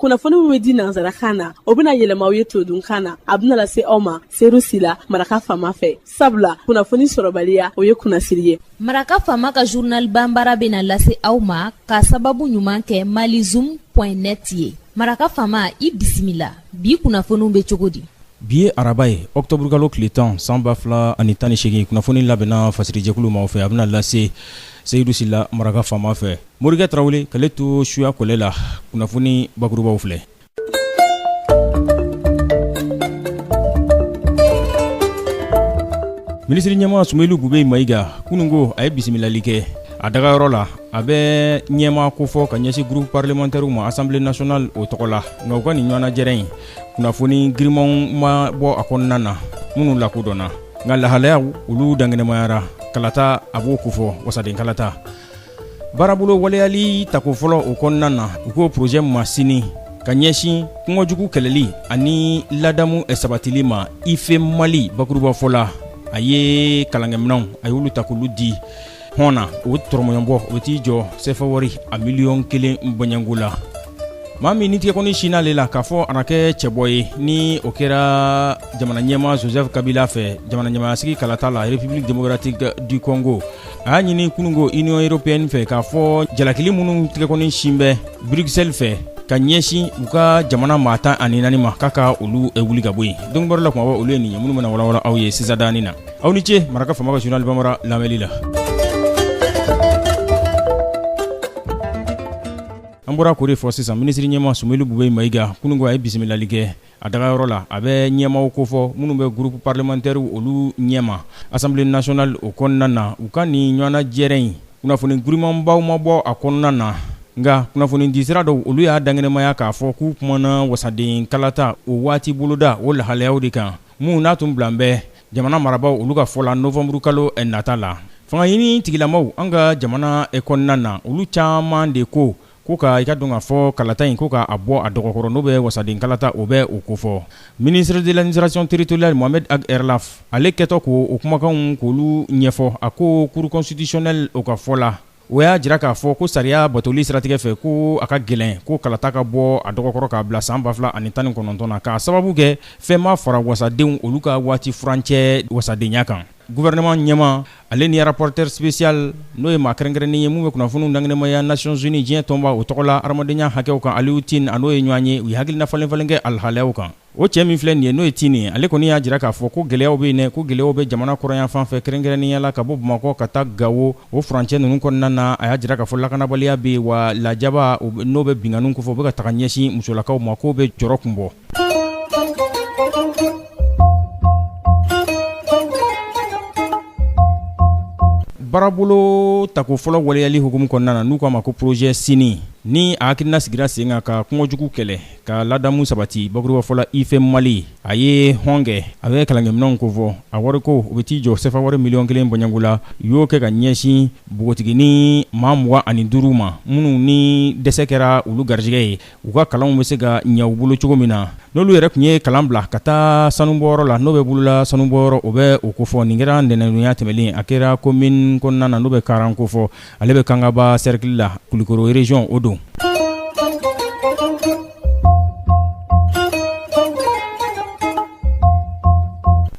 kunnafoni min bɛ di nansarakan na o bɛna yɛlɛma aw ye todunkan na a bɛna lase aw ma seyidu sila maraka fama fɛ sabula kunnafoni sɔrɔbaliya o ye kunnasiri ye maraka fama ka zurnal banbara bɛna lase aw ma ka sababu ɲuman kɛ mali zoom pɔn net ye maraka fama i bisimila bi kunnafoniw bɛ cogo di bi ye araba ye ɔkutɔburukalo tile tan san ba fila ani tan ni seegin kunnafoni labɛnna fasirijɛkulu maaw fɛ a bɛna lase seyidu sila maraka fama fɛ Morikɛ Tarawele k'ale to suya kɔlɛ la, kunnafoni bakurubaw filɛ Minisiri ɲɛma Sumeyilu Bubɛyi Mayiga kunun ko a ye bisimilali kɛ a dagayɔrɔ la, a bɛ ɲɛma kofɔ ka ɲɛsin groupe parlementaire ma assemblée nationale o tɔgɔ la, nka u ka nin ɲɔgɔnnajɛrɛ in kunnafoni girinmanw ma bɔ a kɔnɔna na minnu lakodɔnna, nka lahalayaw olu dankɛnɛmayara, kalata a b'o kofɔ wasaden kalata. baarabolo waleyali tako fɔlɔ o kɔnɔna na u k'o porozɛ masini ka ɲɛsin kunkojugu kɛlɛli ani ladamu sabatili ma ife mali bakurubafɔ la a ye kalankɛminɛnw a y'olu ta k'olu di hɔn na o tɔrɔmɔɲɔbɔ o bɛ t'i jɔ sefawari a miliyɔn kelen bɔɲɔgɔnko la maa min ni tigɛkɔni sinn'ale la k'a fɔ a na kɛ cɛbɔ ye ni o kɛra jamana ɲɛma joseph kabila fɛ jamana ɲɛmayasigi kalata la république démocratique du congo a y'a ɲini kununko union européenne fɛ k'a fɔ jalakili minnu tɛgɛkɔni sin bɛ bruxelles fɛ ka ɲɛsin u ka jamana maa tan ani naani ma k'a ka olu eh, wuli ka bɔ yen donkibaru la kumaba olu ye nin ye minnu bɛna walawala aw ye sisan danin na aw ni ce maraka fama ka journal bambara lamɛnli la an bɔra k'o de fɔ sisan minisiri ɲɛma sumeyilu bubɛyi mayiga kununko a ye bisimilali kɛ A dagayɔrɔ la a bɛ ɲɛmaw kofɔ minnu bɛ groupe parlementaire olu ɲɛma assemblée nationale o kɔnɔna na u ka nin ɲɔgɔnnajɛrɛ in kunnafoni girinmanbaw ma bɔ a kɔnɔna na nka kunnafoni disira dɔw olu y'a dankɛnɛmaya k'a fɔ k'u kumana wasaden kalata o waati boloda o lahalayaw de kan minnu n'a tun bilan bɛ jamana marabagaw olu ka fɔ la nowanburukalo nata la fanga ɲini tigilamaw an ka jamana kɔnɔna na olu caman de ko Ko ka i k'a dɔn k'a fɔ kalata in ko k'a bɔ a dɔgɔkɔrɔ n'o bɛ wasaden kalata o bɛ o kofɔ ministre de l'administration territoriale Mohamed Ag Erlaf ale kɛtɔ k'o kumakanw k'olu ɲɛfɔ a ko cour constitutionnelle o ka fɔ la o y'a jira k'a fɔ ko sariya batoli siratigɛ fɛ ko a ka gɛlɛn ko kalata ka bɔ a dɔgɔkɔrɔ k'a bila san ba fila ani tan ni kɔnɔntɔn na k'a sababu kɛ fɛn ma fara wasadenw olu ka waati furancɛ wasadenya kan Gouvernement ɲɛmaa ale ni rapporteur spécial n'o ye maa kɛrɛnkɛrɛnnen ye min bɛ kunnafoniw dankɛnɛmaya Nations Unies diɲɛ tɔnba o tɔgɔ la hadamadenya hakɛw kan Aliou Tine a n'o ye ɲɔgɔn ye u ye hakilina falen-falen kɛ alhalayaw kan o cɛ min filɛ nin ye n'o ye Tine ye ale kɔni y'a jira k'a fɔ ko gɛlɛyaw bɛ yen dɛ ko gɛlɛyaw bɛ jamana kɔrɔnyanfan fɛ kɛrɛnkɛrɛnnenya la ka bɔ Bamakɔ ka taa Gao o furancɛ ninnu kɔnɔna na a y'a jira k'a fɔ lakanabaliya bɛ yen wa lajaba n'o bɛ binkanniw kofɔ o bɛ ka taga ɲɛsin musolakaw ma k'o bɛ jɔrɔ kun bɔ Baarabolo tako fɔlɔ waleyali hukumu kɔnɔna na n'u k'a ma ko projet Sini ni a hakilina sigira sen kan ka kunko jugu kɛlɛ ka ladamu sabati bakuruba fɔ la IFE Mali a ye hɔn kɛ a bɛ kalankɛminɛnw kofɔ a wariko o bɛ t'i jɔ CFA wari miliyɔn kelen bɔɲɔngo la u y'o kɛ ka ɲɛsin npogotigini maa mugan ani duuru ma minnu ni dɛsɛ kɛra olu garijɛgɛ ye. u ka kalanw bɛ se ka ɲɛ u bolo cogo min na n'olu yɛrɛ tun ye kalan bila ka taa sanubɔyɔrɔ la n'o bɛ bolola sanubɔyɔrɔ o bɛ o ko fɔ nin kɛra ntɛnɛndonya tɛmɛnen a kɛra komini kɔnɔna na n'o bɛ Karan ko fɔ ale bɛ Kangaba sɛrikili la Kulikoro région o don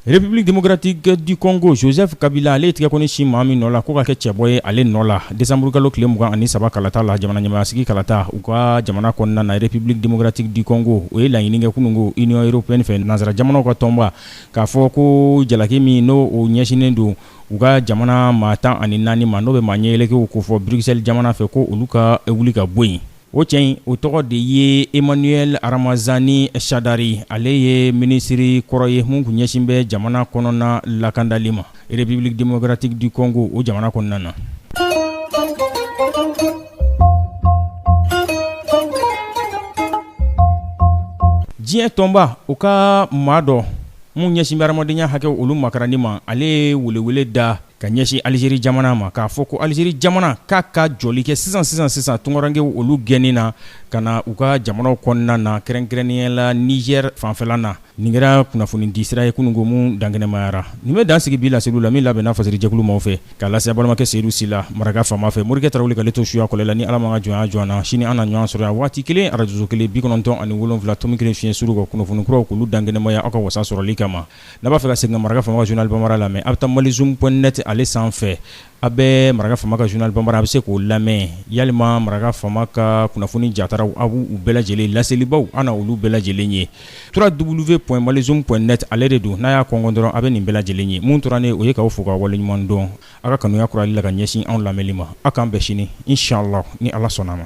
République démocratique du Congo Joseph Kabila ale tigɛ kɔni sin maa min nɔ la ko ka kɛ cɛbɔ ye ale nɔ la desanburukalo tile mugan ani saba kalata la jamana ɲɛmaayasigi kalata u ka jamana kɔnɔna na République démocratique du Congo o ye laɲini kɛ kununko Union européenne fɛ nansara jamanaw ka tɔnba k'a fɔ ko jalaki min n' o ɲɛsinnen don u ka jamana maa tan ani naani ma n'o bɛ maa ɲɛyɛlɛkɛw ko fɔ Bruxelles jamana fɛ ko olu ka wuli ka bɔ yen O cɛ in o tɔgɔ de ye Emmanuel Ramazani Shadary ale ye minisiriri kɔrɔ ye mun tun ɲɛsin bɛ jamana kɔnɔna lakandali ma République démocratique du Congo o jamana kɔnɔna na diɲɛ tɔnba o ka maa dɔ mun ɲɛsin bɛ hamadenya hakɛ olu makarani ma ale ye welewele da ka ɲɛsin Alizeri jamana ma k'a fɔ ko Alizeri jamana k'a ka jɔli kɛ sisan sisan sisan tunkarankew olu gɛnni na ka na u ka jamanaw kɔnɔna na kɛrɛnkɛrɛnnenya la nizɛri fanfɛla na nin kɛra kunnafoni di sira ye kununko minnu dankɛnɛmayara nin bɛ dan sigi bi laseliw la min labɛnna Fasiri jɛkulu maaw fɛ k'a lase balimakɛ seyidu sila maraka Fama fɛ morikɛ tarawele k'ale to suya kɔlɛ la ni ala m'an ka jɔnya jɔ an na sini an na ɲɔgɔn sɔrɔ yan waati kelen arajo kelen bi kɔnɔntɔn ani wolonwula tomi kelen fiɲɛ suru kan kunnafoni kuraw k'olu dankɛnɛmaya aw ka wasa sɔrɔli kama n'a b'a fɛ ka segin ka Maraka Fama ka journal bambara lamɛn a bɛ taa malizoom point net ale sanfɛ a bɛ Maraka Fama ka journal bambara a bɛ se k'o lamɛn yalima Maraka Fama ka kunnafoni jataraw a b' u bɛɛ lajɛlen laselibaw an na olu bɛɛ lajɛlen ye trois W point malizoom point net ale de don n'a y'a kɔnkɔn dɔrɔn a bɛ nin bɛɛ lajɛlen ye mun tora o ye k'aw fo ka waleɲuman dɔn aw ka kanuya kurali la ka ɲɛsin anw lamɛnli ma aw k'an bɛn sini inshallah ni ala sɔnna a ma